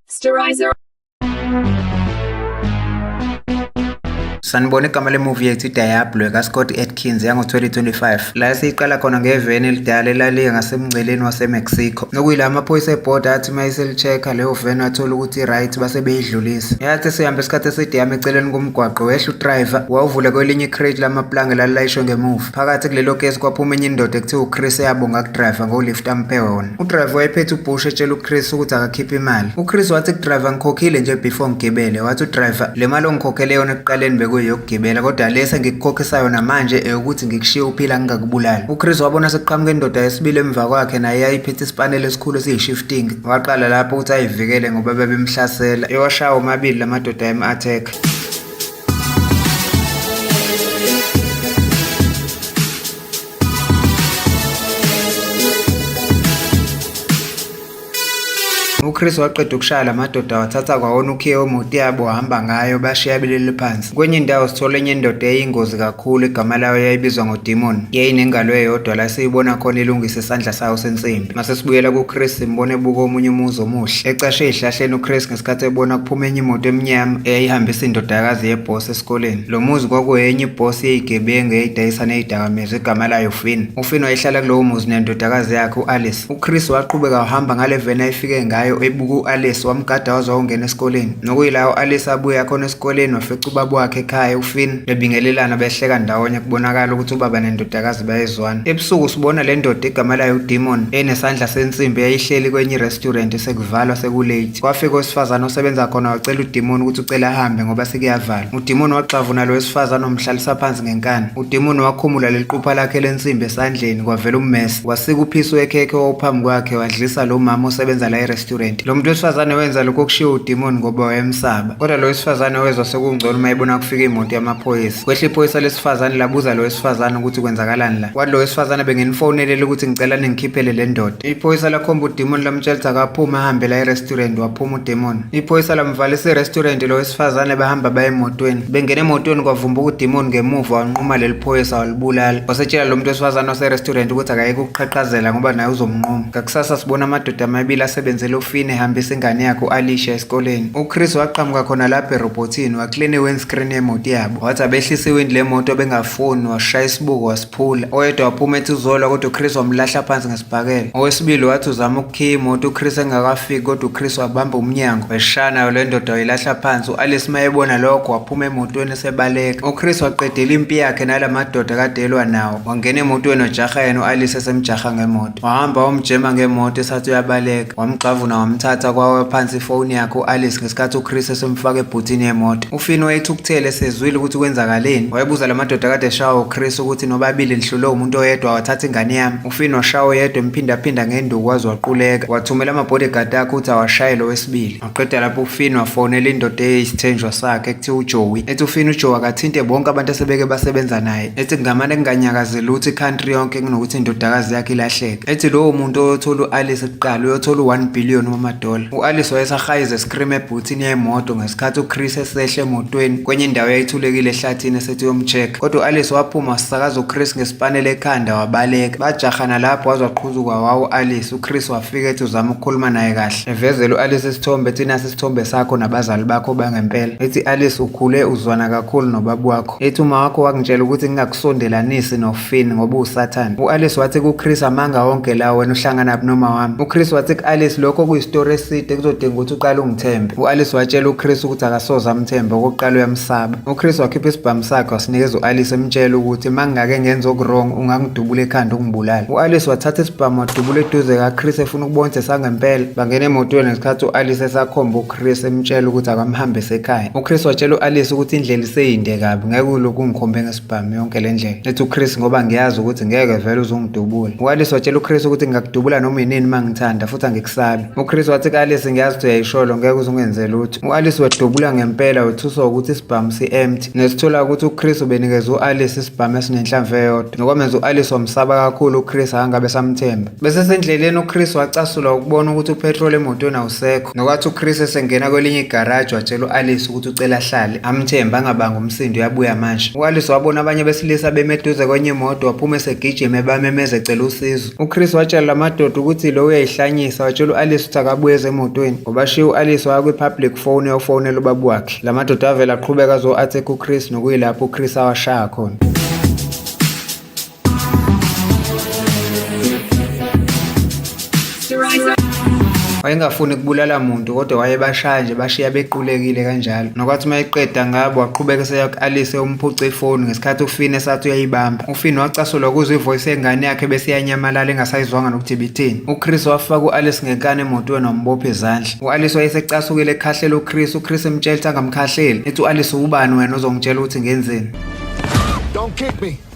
Sterilizer. Sanibona igama lemuvi yethu iDiablo ekaScott Atkins yango-2025 la siyiqala khona ngeveni elidala elaliye ngasemngceleni waseMexico nokuyila amaphoyisa ebhoda athi uma iseli-check-a leyo veni wathola ukuthi i-right base beyidlulisa yathi sihambe isikhathi eside yami eceleni Umgwaqo wehla uDriver wawuvula kwelinye icrate lamaplanga elalilayishwe ngemuva. Phakathi kulelo kesi kwaphuma enye indoda ekuthiwa uChris eyabonga kuDriver ngolift amphe wona. UDriver wayephethe uBush etshela uChris ukuthi akakhiphe imali. UChris wathi kuDriver ngikhokhile nje before ngigibele. Wathi uDriver le mali ongikhokhele yona ekuqaleni bekuyeyokugibela kodwa le sengikukhokhisa yona manje eyokuthi ngikushiye uphila ngingakubulali. UChris wabona sekuqhamuka indoda yesibili emva kwakhe naye yayiphethe isipaneli esikhulu esiyi-shifting. Waqala lapho ukuthi ayivikele ngoba babemhlasela. Ewashawa omabili la madoda ayem-attack. UChris waqeda ukushaya la madoda wathatha kwawona ukhiye wemoto yabo wahamba ngayo bashiya belele phansi. Kwenye indawo sithola enye indoda eyingozi kakhulu igama layo yayibizwa ngoDemon. Yayinengalo eyodwa la siyibona khona ilungisa isandla sayo sensimbi. Ngase sibuyela kuChris simbone ebuka omunye umuzi omuhle. Ecashe ezihlahleni uChris ngesikhathi ebona kuphuma enye imoto emnyama eyayihambisa indodakazi yeboss esikoleni. Lo muzi kwakuyenye iboss yezigebengu eyayidayisa nezidakamizwa igama layo Finn. UFinn wayehlala kulowo muzi nendodakazi yakhe uAlice. UChris waqhubeka wahamba ngale veni ayifike ngayo ebuka uAlice wamgada waze wawungena esikoleni. Nokuyila uAlice abuya khona esikoleni wafica ubaba wakhe ekhaya uFinn. bebingelelana behleka ndawonye kubonakala ukuthi ubaba nendodakazi bayezwana ebusuku sibona le ndoda igama layo udemon enesandla sensimbi yayihleli kwenye irestaurant sekuvalwa sekulate kwafika owesifazane osebenza khona wacela udemon ukuthi ucela ahambe ngoba sekuyavalwa udemon waxavuna lo wesifazane omhlalisa phansi ngenkani udemon wakhumula leliqupha lakhe lensimbi esandleni kwavela ummese wasika uphiso wekhekhe owawuphambi kwakhe wadlisa lo mama osebenza la erestaurant lo muntu wesifazane wenza lokho okushiwo udemon ngoba wayemsaba Kodwa lo wesifazane wezwa sekungcono uma ebona kufika imoto yamaphoyisa. Kwehle iphoyisa lesifazane labuza lo wesifazane ukuthi kwenzakalani la. Wathi lo wesifazane benginifonelele ukuthi ngicela ningikhiphele le ndoda. Iphoyisa lakhomba udemon lamtshela ukuthi akaphuma ahambe la e-restaurant waphuma udemon. Iphoyisa lamvalisa i-restaurant lo wesifazane bahamba baye emotweni. Bengena emotweni kwavumbuka udemon ngemuva wanquma leli phoyisa walibulala. Wasetshela lo muntu wesifazane wase-restaurant ukuthi akayeke ukuqhaqhazela ngoba naye uzomnquma. Ngakusasa sibona amadoda amabili asebenzela ufini ehambisa ingane yakhe u-Alicia esikoleni. UChris waqhamuka khona lapho erobhothini, waklina i-windscreen yemoto yabo. Wathi abehlisa iwindi lemoto bengafuni, washaya isibuko wasiphula. Oyedwa waphuma ethi uzolwa kodwa uChris wamlahla phansi ngesibhakela. Owesibili wathi uzama ukukhiya imoto uChris engakafiki kodwa uChris wabamba umnyango. Weshaya nayo le ndoda wayilahla phansi. U-Alice mayebona lokho waphuma emotweni esebaleka. UChris waqedela impi yakhe nala madoda kade elwa nawo. Wangena emotweni wajaha yena u-Alice esemjaha ngemoto. Wahamba wamjema ngemoto esathi uyabaleka, wamgxavuna wamthatha kwawe phansi ifoni yakhe u-Alice ngesikhathi uChris esemfaka ebhuthini yemoto. UFinn wayethukuthele esezwile ukuthi kwenzakaleni. Wayebuza la madoda kade eshawa uChris ukuthi nobabili lihlulwe umuntu oyedwa wathatha ingane yami. UFinn washawa oyedwa emphindaphinda ngenduku waze waquleka. Wathumela ama-bodyguard akhe ukuthi awashaye lo wesibili. Waqeda lapho uFinn wafonela indoda eyisithenjwa sakhe ekuthiwa uJoey ethi uFinn uJoey akathinte bonke abantu asebeke basebenza naye ethi kungamane kunganyakaze lutho i-country yonke kunokuthi indodakazi yakhe ilahleke ethi lowo muntu oyothola u-alice kuqala uyothola u-1 billion wamadola u-alice wayesahayiza escream ebhuthini yemoto ngesikhathi uchris esehle emotweni kwenye indawo yayithulekile ehlathini esethi uyomcheck kodwa u-alice waphuma wasisakaza uchris ngesipanela ekhanda wabaleka bajahana lapho waze waqhuzuka wawu u-alice uchris wafika ethi uzama ukukhuluma naye kahle Evezela u-Alice isithombe ethi nasi isithombe sakho nabazali bakho bangempela. Ethi Alice ukhule uzwana kakhulu nobaba wakho. Ethi uma wakho wakungitshela ukuthi ngingakusondelanisi noFinn ngoba usathane. U-Alice wathi kuChris amanga wonke lawo wena uhlangana noma wami. UChris wathi ku-Alice lokho kuyisitori eside kuzodinga ukuthi uqale ungithembe. U-Alice watshela uChris ukuthi akasoze amthembe okokuqala uyamsaba. UChris wakhipha isibhamu sakhe wasinikeza u-Alice emtshela ukuthi mangingake ngenza okuwrong ungangidubula ekhanda ungibulale. U-Alice wathatha isibhamu wadubula eduze kaChris efuna Ubonse sangempela bangena emotweni ngesikhathi u-Alice esakhomba uChris emtshela ukuthi akamhambise ekhaya. UChris watshela u-Alice ukuthi indlela iseyinde kabi ngeke ulokhu ungikhombe ngesibhamu yonke le ndlela. Ethi uChris ngoba ngiyazi ukuthi ngeke vele uzongidubula. U-Alice watshela uChris ukuthi ngingakudubula noma yinini uma ngithanda futhi angikusabi. UChris wathi ku-Alice ngiyazi ukuthi uyayisholo ngeke uze ungenze lutho. U-Alice wedubula ngempela wethuswa ukuthi isibhamu si-empty. Nesithola ukuthi uChris ubenikeza u-Alice isibhamu esinenhlamvu eyodwa. Nokwamenza u-Alice wamsaba kakhulu uChris akangabe samthemba. Besesendleleni uChris wacasulwa ukubona ukuthi upetrol emotweni awusekho. Nokwathi uChris esengena kwelinye igaraji watshela u-Alice ukuthi ucela ahlale. Amthemba angabanga umsindo uyabuya manje. U-Alice wabona abanye besilisa beme eduze kwenye imoto waphuma esegijima ebamemeza ecela usizo. UChris watshela la madoda ukuthi lo uyayihlanyisa watshela u-Alice ukuthi akabuye ezemotweni. Ngobashiya u-Alice waya kwi-public phone eyofonela ubaba wakhe. La madoda avele aqhubeka azo-attack uChris nokuyilapho uChris awashaya khona. wayengafuni kubulala muntu kodwa wayebashaya nje bashiya bequlekile kanjalo nokwathi uma eqeda ngabo waqhubeka eseya ku-alise umphuce ifoni ngesikhathi ufin esathi uyayibamba ufin wacasulwa kuzwa ivoyisi yengane yakhe bese iyanyamalala engasayizwanga nokuthi ibithini uchris wafaka u-alice ngenkani emotweni wambopha izandla u-alice wayesecasukile ekhahlela uchris uchris emtshela ukuthi angamkhahleli ethi u-alice ubani wena ozongitshela ukuthi ngenzeni Don't kick me.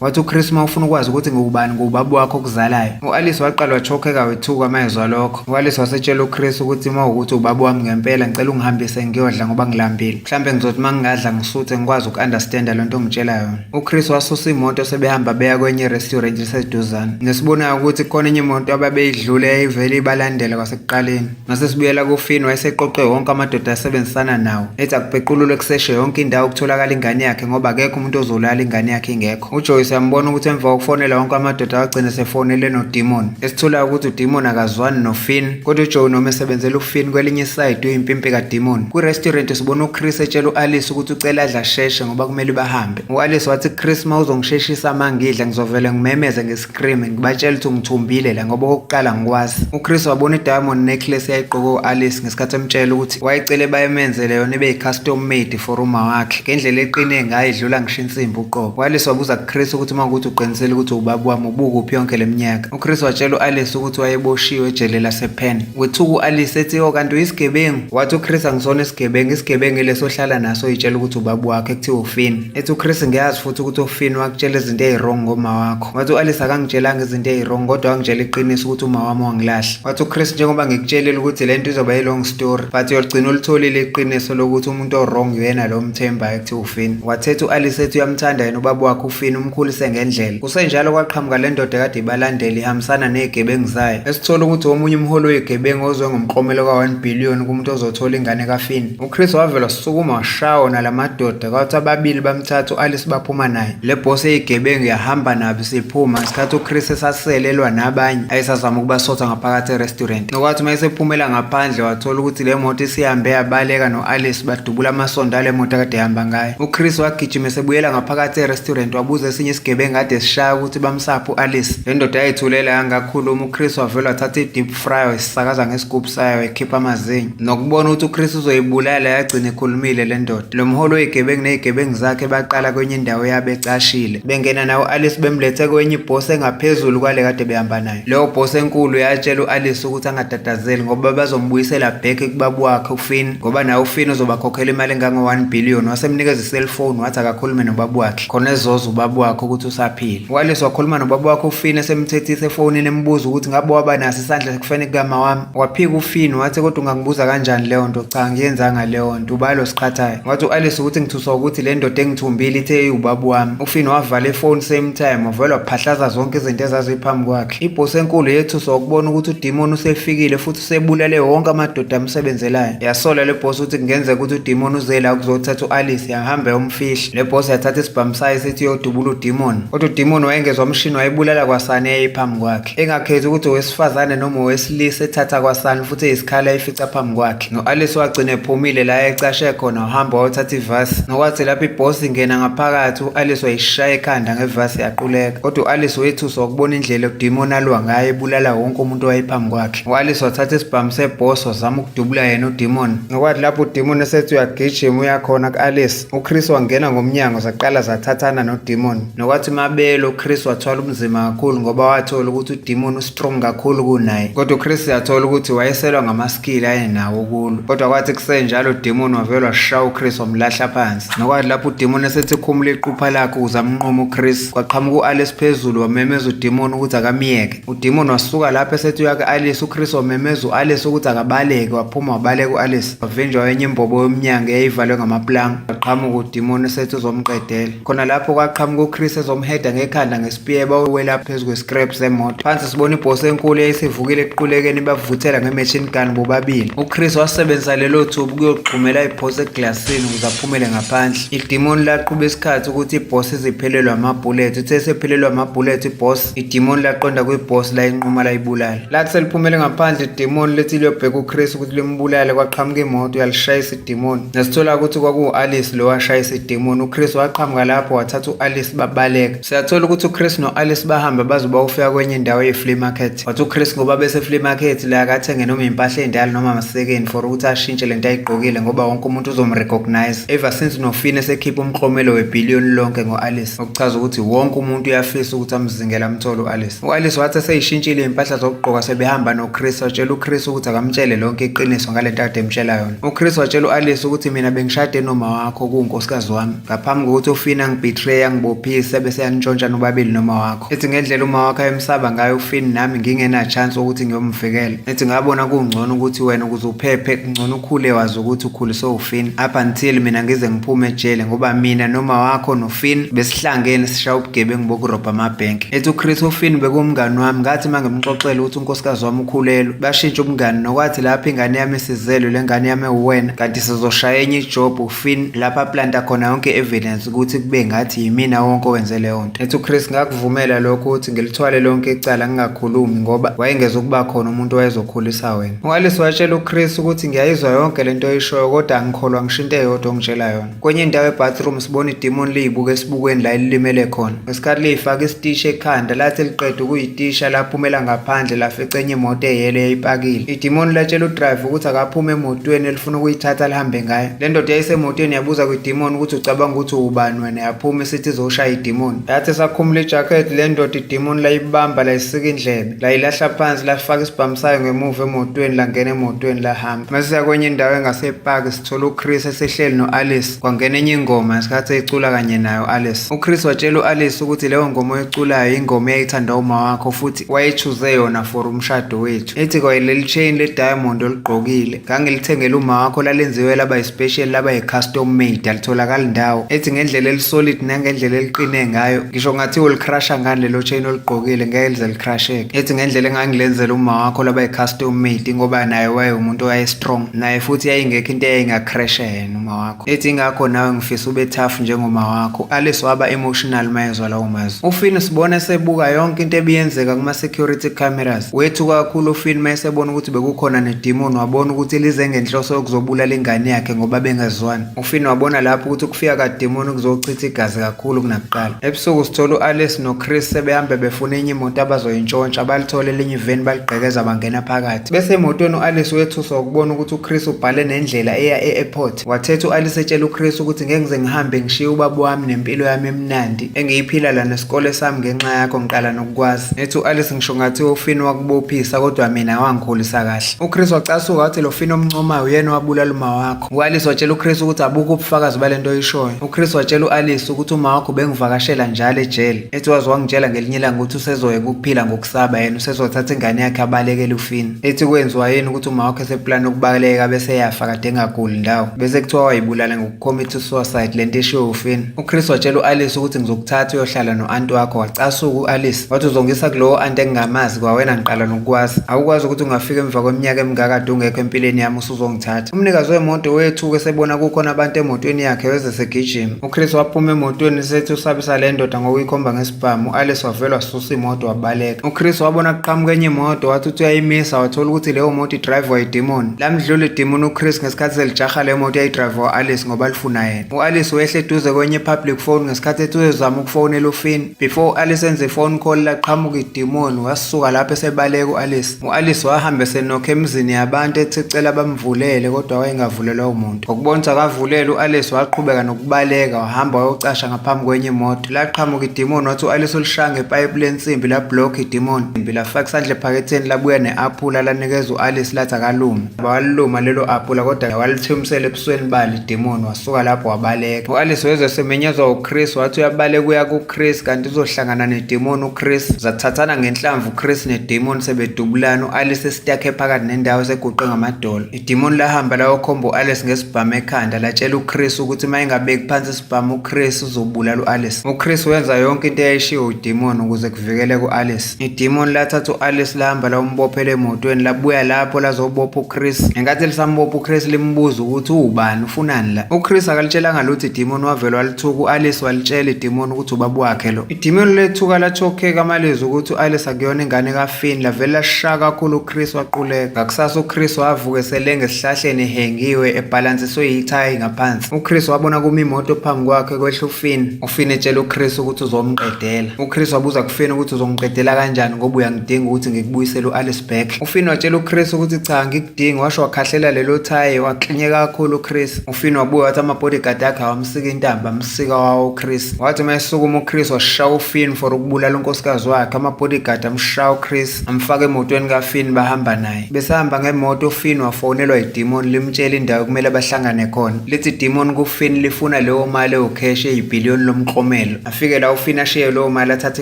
wathi uchris uma ufuna ukwazi ukuthi ngubani ngubaba wakho okuzalayo u-alice waqala wachokheka wethuka uma ezwa lokho u-alice wasetshela uchris ukuthi uma ukuthi ubaba wami ngempela ngicela ungihambise ngiyodla ngoba ngilambile mhlawumbe ngizothi uma ngingadla ngisuthe ngikwazi uku-understanda lo nto ongitshela yona uchris wasusa imoto sebehamba beya kwenye restaurant liseduzane nesibonayo ukuthi khona enye imoto ababeyidlule yayivele ibalandela kwasekuqaleni Ngase sibuyela kufini wayeseqoqe wonke amadoda asebenzisana nawo ethi akupequlule kuseshe yonke indawo ukutholakala ingane yakhe ngoba akekho umuntu ozolala ingane yakhe ingekho ujoyce yambona ukuthi emva kokufonela wonke amadoda wagcina sefonele nodimon esitholayo ukuthi udimon akazwani nofin kodwa ujoe noma esebenzela ufin kwelinye isayidi uyimpimpi kadimon kwirestaurant sibona uchris etshela u-alice ukuthi ucela adla sheshe ngoba kumele bahambe u-alice wathi chris ma uzongisheshisa mangidla ngizovele ngimemeze Scream ngibatshela ukuthi ngithumbile la ngoba okokuqala ngikwazi. UChris wabona i-diamond necklace yayigqoke u-Alice ngesikhathi emtshela ukuthi wayecele bayemenzele yona ibe yi-custom made for uma wakhe. Ngendlela eqine ngayo idlula ngisho insimbi uqobo. U-Alice wabuza kuChris ukuthi uma ukuthi uqinisele ukuthi ubaba wami ubukuphi yonke le minyaka. UChris watshela u-Alice ukuthi wayeboshiwe ejele lasePenn. Wethuka u-Alice ethi o oh, kanti uyisigebengu. Wathi uChris angisona isigebengu, isigebengu ileso ohlala naso yitshela ukuthi ubaba wakhe kuthiwa ufini. ethi uChris ngiyazi futhi ukuthi uFinn wakutshela izinto eziwrong ngoma wakho wathi uAlice akangitshelanga izinto eziwrong kodwa wangitshela iqiniso ukuthi uma wami wangilahla wathi uChris njengoba ngikutshelile ukuthi le nto izoba yi-long story but uyogcina ulitholile iqiniso lokuthi umuntu owrong uyena lo mthembayo kuthiwa uFinn wathetha uAlice ethi uyamthanda yena ubaba wakhe uFinn umkhulise ngendlela kusenjalo kwaqhamuka le ndoda kade ibalandela ihambisana nezigebengu zayo esithola ukuthi omunye umholi wezigebengu ozwe ngomklomelo ka-1 billion kumuntu ozothola ingane kaFinn uChris wavela sukuma washawo nalamadoda Bekwathi ababili bamthatha u-Alice baphuma naye. Le boss eyigebengu yahamba nabo siphuma ngesikhathi uChris esaselelwa nabanye ayesazama ukubasotha ngaphakathi e-restaurant. Nokwathi uma esephumela ngaphandle wathola ukuthi le moto isihambe yabaleka no-Alice badubula amasondo ale moto akade ehamba ngayo. UChris wagijima esebuyela ngaphakathi e-restaurant wabuza esinye isigebengu kade sishaya ukuthi bamsaphi u-Alice. Le ndoda yayithulela yangakhuluma uChris wavele wathatha i-deep Fryo isisakaza ngesigubhu sayo ekhipha amazinyo nokubona ukuthi uChris uzoyibulala yagcina ikhulumile le ndoda. Lo mholi oyigebengu nezigebengu zakhe baqala kwenye indawo yabo ecashile bengena nawo u-Alice bemlethe kwenye ibhosi engaphezulu kwale kade behamba nayo. Leyo bhosi enkulu yatshela u-Alice ukuthi angatatazeli ngoba bazombuyisela back kubaba wakhe uFinn ngoba naye uFinn uzobakhokhela imali engango-1 billion wasemnikeza iselfoni wathi akakhulume nobaba wakhe. khona ezoza ubaba wakhe ukuthi usaphila wales wakhuluma nobaba wakhe ufini esemthethisa efonini embuza ukuthi ngabe waba naso isandla sekufeni kukama wami waphika ufini wathi kodwa ungangibuza kanjani leyo nto cha ngiyenzanga leyo nto ubani lo siqhathayo wathi u-alice ukuthi ngithuswa ukuthi le ndoda engithumbile ithe iwubaba wami ufini wavala ifoni same time wavele waphahlaza zonke izinto ezaziphambi kwakhe ibhosi enkulu yethuswa ukubona ukuthi udimoni usefikile futhi usebulele wonke amadoda amsebenzelayo yasola le bhosi ukuthi kungenzeka ukuthi udimoni uzela ukuzothatha u-alice yahamba yomfihla Le boss yathatha isibhamu sayo sithi yodubula udemon. Kodwa udemon wayengezwa umshini wayibulala kwasani eyayiphambi kwakhe. Engakhethi ukuthi owesifazane noma owesilisa ethatha kwasani futhi eyisikhala eyifica phambi kwakhe. No-Alice wagcina ephumile la ecashe khona wahamba wayothatha ivasi. Nokwathi lapho iboss ingena ngaphakathi u-Alice wayishaya ekhanda ngevasi yaquleka. Kodwa u-Alice wethuswa ukubona indlela udemon alwa ngayo ebulala wonke umuntu owayephambi kwakhe. U-Alice wathatha isibhamu seboss wazama ukudubula yena udemon. Nokwathi lapho udemon esethi uyagijima uyakhona ku-Alice. UChris wangena ngomnyango zaqala zathathana noDemon. Nokwathi mabelo uChris wathwala ubunzima kakhulu ngoba wathola ukuthi uDemon ustrong kakhulu kunaye. Kodwa uChris yathola ukuthi wayeselwa ngamaskill ayenawo kulo. Kodwa kwathi kusenjalo uDemon wavelwa shaya uChris wamlahla phansi. Nokwathi lapho uDemon esethi khumula iqupha lakhe ukuze amnqume uChris, kwaqhamuka uAlice phezulu wamemeza uDemon ukuthi akamyeke. udimoni wasuka lapho esethi uyake alice uchris wamemeza u-alice ukuthi akabaleke waphuma wabaleka u-alice wavinjwa wenye imbobo yomnyango eyayivalwe ngamaplanga waqhamuka udimoni esethi uzomqedela khona lapho kwaqhamuka uchris ezomheda ngekhanda ngespiyeba owela phezu kwescrap semoto phansi sibona ibhosi enkulu eyayisivukile equlekeni bavuthela ngemachine gun bobabili uchris wasebenzisa lelo thuba ukuyogxumela ibhosi eglasini ukuze aphumele ngaphandle idimoni laqhuba isikhathi ukuthi ibhosi iziphelelwe amabhulethi uthe esephelelwe amabhulethi ibhosi idimoni laqonda kwibhosi layinquma layibulala lathi seliphumele ngaphandle idimoni lethi liyobheka uChris ukuthi limbulale kwaqhamuka imoto yalishayisa idimoni nasithola ukuthi kwakuwu-alice lo washayisa idimoni uChris waqhamuka lapho wathatha u-alice babaleka siyathola ukuthi uChris no-alice bahamba baze bawufika kwenye indawo ye-flea market wathi uChris ngoba bese-flea market la akathenge noma impahla ey'ndala noma amasekeni for ukuthi ashintshe le nto ayigqokile ngoba wonke umuntu uzomrecognize ever since nofina esekhipha umklomelo webhiliyoni lonke ngo-alice okuchaza ukuthi wonke umuntu uyafisa ukuthi amzingele amthole u-alice u-alice wathi eseyishintshile iy'mpahla zokugqoka sebehamba nochris watshela uchris ukuthi akamtshele lonke iqiniso ngale nto ade emtshela yona uchris watshela u-alice ukuthi mina bengishade noma wakho kuwunkosikazi wami ngaphambi kokuthi ufina ngibetray angibophise bese yanitshontsha nobabili noma wakho Ethi ngendlela uma wakhe emsaba ngayo ufini nami ngingena chance ukuthi ngiyomvikela. Ethi ngabona kungcono ukuthi wena ukuze uphephe kungcono ukhule wazi ukuthi ukhuliswe ufini. Up until mina ngize ngiphume ejele ngoba mina noma wakho nofini besihlangene sishaya ubugebengu bokurobha amabhenki. Ethi uChris ufini bekumngani wami ngathi mangimxoxela ukuthi unkosikazi wami ukhulelwe. Bashintsha ubungani nokwathi lapho ingane yami isizelwe lengane yami uwena kanti sizoshaya enye ijob ufini lapha planta khona yonke evidence ukuthi kube ngathi yimina wonke owenze leyo Ethi uChris ngakuvumela lokho ukuthi ngilithwale lonke icala ngingakhulumi ngoba wayengeza ukuba khona umuntu owayezokhulisa wena. UAlice watshela uChris ukuthi ngiyayizwa yonke lento oyishoyo kodwa angikholwa ngisho into eyodwa ongitshela yona. Kwenye indawo ebathroom sibona idemon liyibuka esibukweni la elilimele khona. Ngesikhathi liyifaka isitishi ekhanda lathi liqeda ukuyitisha laphumela ngaphandle lafica enye imoto eyele yayipakile. Idemon latshela udriver ukuthi akaphume emotweni elifuna ukuyithatha lihambe ngayo. Le ndoda yayisemotweni yabuza kwidemon ukuthi ucabanga ukuthi uwubani wena. yaphuma isithi izoshaya idimoni yathi esakhumula ijakhethi le ndoda idimoni layibamba layisika indlebe layilahla phansi lafaka isibhamu sayo ngemuva emotweni langena emotweni lahamba masiya kwenye indawo engasepaki sithola uchris esehleli no-alice kwangena enye ingoma ngesikhathi eyicula kanye nayo u-alice uchris watshela u-alice ukuthi leyo ngoma oyiculayo yingoma eyayithanda uma wakho futhi wayechuze yona for umshado wethu ethi kwayeleli chain le-diamond olugqokile ngangilithengela umakho lalenziwe laba yi-special laba yi-custom made alitholakali ndawo ethi ngendlela elisolid nangendlela eliqine ngayo ngisho ngathi ulicrusha ngani lelo chain oligqokile ngeke lize licrusheke ethi ngendlela engangilenzela uma wakho laba yi-custom made ngoba naye wayewumuntu owaye-strong naye futhi yayingekho into eyayingacrasha yena uma wakho wakho. Ethi ngakho nawe ngifisa ube tough njengoma wakho. Alice waba emotional mayezwa lawo mazwi. UFinn usibona esebuka yonke into ebiyenzeka kuma security cameras. Wethu kakhulu uFinn mayesebona ukuthi bekukhona nedemon wabona ukuthi lize ngenhloso yokuzobulala ingane yakhe ngoba bengazwani. UFinn wabona lapho ukuthi ukufika kademon kuzochitha igazi kakhulu kunakuqala. Ebusuku sithola uAlice noChris sebehamba befuna enye imoto abazoyintshontsha balithole elinye eveni baligqekeza bangena phakathi bese emotweni u-alice wethuswa ukubona ukuthi uchris ubhale nendlela eya e-airport wathetha u-alice etshela uchris ukuthi ngeke ngize ngihambe ngishiye ubaba wami nempilo yami emnandi engiyiphila la nesikole sami ngenxa yakho ngiqala nokukwazi ethi u-alice ngisho ngathi ufini wakubophisa kodwa mina wangikhulisa kahle uchris wacasuka wathi lo fini omncomayo uyena owabulala uma wakho u-alice watshela uchris ukuthi abukho ubufakazi bale nto oyishoyo uchris watshela u-alice ukuthi uma wakho bengivakashela njalo ejele ethi waze wangitshela ngelinye ilanga ukuthi usezoyeka ukuphila ngokusaba yena usezothatha ingane yakhe abalekele ufini ethi kwenziwa yini ukuthi uma wakhe seplani ukubaleka bese yafa kade engaguli ndawo bese kuthiwa wayibulala ngokucommit suicide le nto eshiwo ufini uchris watshela u-alice ukuthi ngizokuthatha uyohlala no-anti wakho wacasuka u-alice wathi uzongisa kulowo anti engingamazi kwawena ngiqala nokukwazi awukwazi ukuthi ungafika emva kweminyaka emingakade ungekho empilweni yami uzongithatha. Umnikazi wemoto wethuke sebona kukhona abantu emotweni yakhe weze segijima. UChris waphuma emotweni sethi usabisa le ndoda ngokuyikhomba ngesibhamu. U-Alice wavele wasusa imoto wabaleka. UChris wabona kuqhamuka enye imoto wathi uthi uyayimisa wathola ukuthi leyo moto idrive wayidimoni. Lamdlula idimoni uChris ngesikhathi selijaha le moto yayidrive wa-Alice ngoba lifuna yena. U-Alice wehle eduze kwenye i-public phone ngesikhathi ethi uyozama ukufonela uFinn. Before u-Alice enze i-phone call laqhamuka idimoni wasuka lapho esebaleka u-Alice. U-Alice wahamba esenokha emizini yabantu ethi ecela bamvulele kodwa wayengavulelwa umuntu. Ngokubona ukuthi akavulele u-Alice waqhubeka nokubaleka wahamba wayocasha ngaphambi kwenye imoto. Laqhamuka idimoni wathi u-Alice ulishaya ngepayipi lensimbi la-block idimoni. Imbi lafaka isandla ephaketheni labuya ne-aphula lanikeza u-Alice lathi akalume. waliluma lelo apula kodwa walithumsela ebusweni bali demoni wasuka lapho wabaleka u-alice wezwe semenyezwa uchris wathi uyabaleka uya kuchris kanti uzohlangana nedemoni uchris zathathana ngenhlamvu uchris nedemoni sebedubulana u-alice esitakhe phakathi nendawo eseguqe ngamadolo idemoni lahamba layokhomba u-alice ngesibhamu ekhanda latshela uchris ukuthi uma engabeki phansi isibhamu uchris uzobulala u-alice uchris wenza yonke into eyayishiwo udemoni ukuze kuvikeleke u-alice Idimoni lathatha u-Alice lahamba lawumbophela emotweni labuya lapho lazobopha uChris. Ngenkathi lisambopha uChris limbuza ukuthi uwubani ufunani la. UChris akalitshelanga lutho idimoni wavele walithuka u-Alice walitshela idimoni ukuthi ubaba wakhe lo. Idimoni lethuka lachokheka amalizwi ukuthi u-Alice akuyona ingane kafini lavele lashaya kakhulu uChris waquleka. Ngakusasa uChris wavuka eselenge esihlahleni ehengiwe ebhalansiswe yithayi ngaphansi. UChris wabona kumi imoto phambi kwakhe kwehla ufini. Fini etshela uChris ukuthi uzomqedela. UChris wabuza kuFini ukuthi uzongiqedela kanjani ngoba uyangidinga ukuthi ngikubuyisele u-Alice back. UFini watshela uChris ukuthi cha ngikudingi washo wakhahlela lelo thayi waklinye kakhulu uChris. UFini wabuya wathi ama-bodyguard akhe awamsika intamba amsika wawo uChris. Wathi uma esukuma uChris washaya uFini for ukubulala unkosikazi wakhe ama-bodyguard amshaya uChris amfaka emotweni kaFini bahamba naye. Besahamba ngemoto uFinn wafonelwa idimoni limtshela indawo ekumele bahlangane khona. Lithi idimoni kuFinn lifuna leyo mali ewukheshe eyibhiliyoni lomklomelo. Afike la uFinn ashiye leyo mali athathe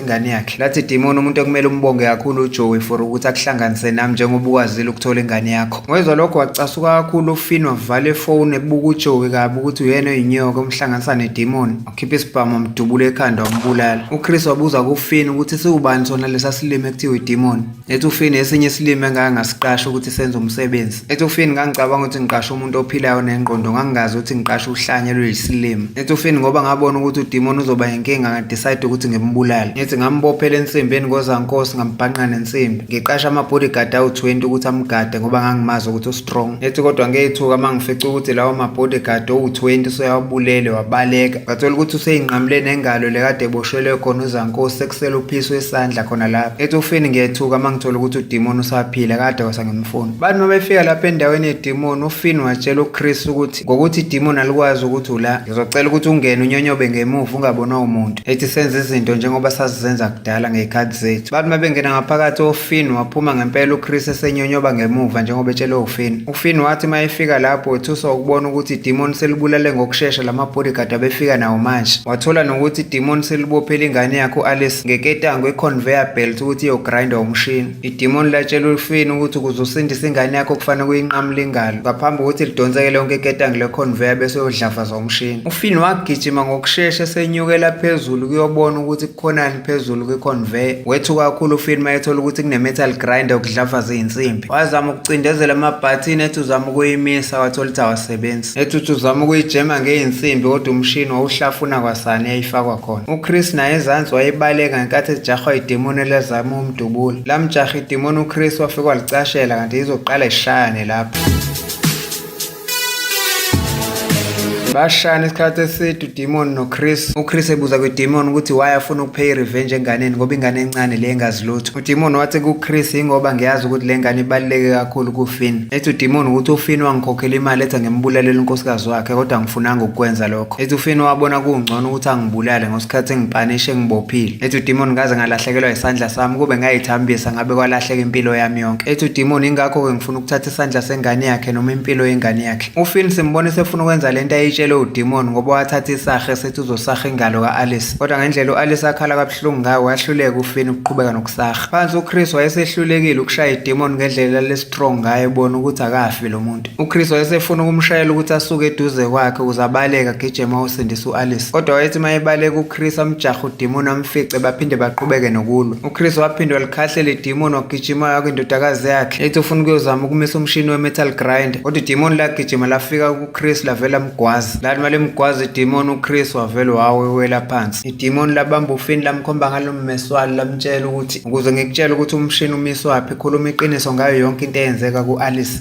ingane yakhe. Lathi idimoni umuntu ekumele umbonge kakhulu uJoey for ukuthi akuhlanganise nami njengoba ukwazile ukuthola ingane yakho. Ngoyizwa lokho wacasuka kakhulu uFinn wavala ifoni ebuka uJoey kabi ukuthi uyena oyinyoka omhlanganisa nedimoni. Wakhipha isibhamu wamdubula ekhanda wambulala. UChris wabuza kuFinn ukuthi siwubani sona lesa silimi ekuthiwa idimoni. Ethufini esinye isilimi engake ngasiqasha ukuthi senze umsebenzi. Ethufini ngangicabanga ukuthi ngiqashe umuntu ophilayo nengqondo ngangingazi ukuthi ngiqashe uhlanya lweyisilimi. Ethufini ngoba ngabona ukuthi udimoni uzoba yinkinga ngadecide ukuthi ngimbulale. Ngithi ngambophela ensimbeni kozankosi ngambhanqa nensimbi. Ngiqasha ama-bodyguard awu-20 ukuthi amgade ngoba ngangimazi ukuthi strong ethi kodwa ngeyithuka mangifica ukuthi lawo ma bodyguard owu20 soyawubulele wabaleka ngathola ukuthi useyinqamule nengalo lekade eboshelwe khona uzankosi sekusela uphiso esandla khona lapha ethi ufini ngiyethuka mangithola ukuthi udemon usaphila kade wasangimfuna bani mabefika lapha endaweni yedemon ufini watshela uChris ukuthi left. Ngokuthi idemon alikwazi ukuthi ula, ngizocela ukuthi ungene unyonyobe ngemuva ungabonwa umuntu. Ethi senze izinto njengoba sazizenza kudala ngey'khathi zethu. Bathi mabengena ngaphakathi ofin waphuma ngempela uChris esenyonyoba ngemuva njengoba etshelwe ufin. Ufin wathi uma efika lapho wethuswa ukubona ukuthi idemon selibulale ngokushesha lama bodyguard abefika nawo manje. Wathola nokuthi idemon selibophele ingane yakhe u-Alice ngeketango iconveyor belt ukuthi iyogrinda umshini. Idimoni latshela ulufini ukuthi ukuze usindise ingane yakho kufanele kuyinqamule ingalo ngaphambi kokuthi lidonseke lonke iketangi leconveyor bese uyodlafaza umshini. Ufini wagijima ngokushesha esenyukela phezulu kuyobona ukuthi kukhonani phezulu kwiconveyor. Wethuka kakhulu ufini mayethola ukuthi kunemetal grinder ukudlafaza izinsimbi. Wazama ukucindezela amabhathini ethi uzama ukuyimisa wathola ukuthi awasebenzi. Ethi uthi uzama ukuyijema ngezinsimbi kodwa umshini wawuhlafuna kwasani yayifakwa khona. UChris naye ezansi wayebaleka ngenkathi ejahwa idemoni elazama dubula lamjaha idimoni uChris wafika walicashela kanti izoqala ishayane lapho bashana isikhathi eside udemon nochris uchris ebuza kwidemon ukuthi why afuna ukupheya irevenge enganeni ngoba ingane encane le engazi lutho udemon wathi kuchris yingoba ngiyazi ukuthi le ngane ibaluleke kakhulu kufin ethi udemon ukuthi ufin wangikhokhela imali ethi ngimbulalele unkosikazi wakhe kodwa ngifunanga ukukwenza lokho lokho. Ethi ufina wabona kungcono ukuthi angibulale ngosikhathi engipanishe ngibophile. Ethi udimoni ngaze ngalahlekelwa isandla sami kube ngayithambisa ngabe kwalahleka impilo yami yonke. Ethi udimoni ingakho-ke ngifuna ukuthatha isandla sengane yakhe noma impilo yengane yakhe. Ufin simbona esefuna ukwenza le nto ayitshelwe udimoni ngoba wathatha isahe sethi uzosaha ingalo ka-alice kodwa ngendlela u-alice akhala kabuhlungu ngayo wahluleka ufin ukuqhubeka nokusaha phansi uchris wayesehlulekile ukushaya idimoni ngendlela lesitrong ngayo ebona ukuthi akafi lo muntu UChris wayesefuna ukumshayela ukuthi asuke eduze kwakhe ukuze abaleke agijeme awusindise u-Alice. Kodwa wayethi uma ebaleka uChris amjaha udimoni amfice baphinde baqhubeke nokulwa. UChris waphinde walikhahlela idimoni wagijima waya kwindodakazi yakhe ethi ufuna ukuyozama ukumisa umshini we-metal grinder. Kodwa idimoni lagijima lafika kuChris lavela mgwazi. Lathi uma limgwaza idimoni uChris wavele wawewela phansi. Idimoni labamba ufini lamkhomba ngalo mmeswalo lamtshela ukuthi ukuze ngikutshele ukuthi umshini umiswaphi khuluma iqiniso ngayo yonke into eyenzeka ku-Alice.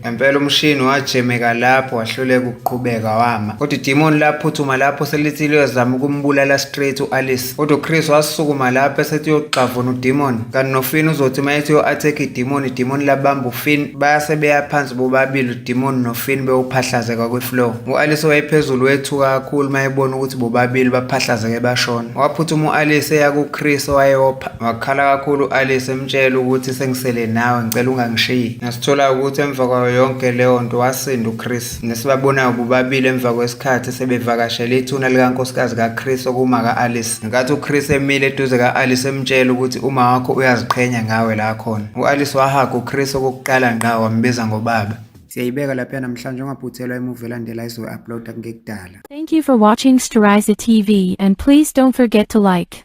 Ngempela umshini wajemeka lapho wahluleka ukuqhubeka wama. Kodwa idimoni laphuthuma lapho selithi liyozama ukumbulala straight u-Alice. Kodwa uChris wasukuma lapho esethi uyogxavuna udimoni. Kanti noFinn uzothi uma ethi uyo-attack idimoni, idimoni labamba uFinn. Base beya phansi bobabili udimoni noFinn bewuphahlazeka kwi-floor. U-Alice owayephezulu wethuka kakhulu uma ebona ukuthi bobabili baphahlazeke bashona. Waphuthuma u-Alice eya kuChris Wakhala kakhulu u-Alice emtshela ukuthi sengisele nawe ngicela ungangishiyi. Ngasithola ukuthi emva kwayo yonke leyo nto wasinda uChris. Nesibabonayo bobabili emva kwesikhathi sebevakashele ithuna likankosikazi kaChris okumaka-Alice. Ngenkathi uChris emile eduze ka-Alice emtshela ukuthi uma wakho uyaziqhenya ngawe la khona. U-Alice wahaga uChris okokuqala ngqa wambiza ngobaba. Siyayibeka lapha namhlanje ungaphuthelwa emuva elandela izoyi-uploada kungekudala. Thank you for watching Steriza TV and please don't forget to like,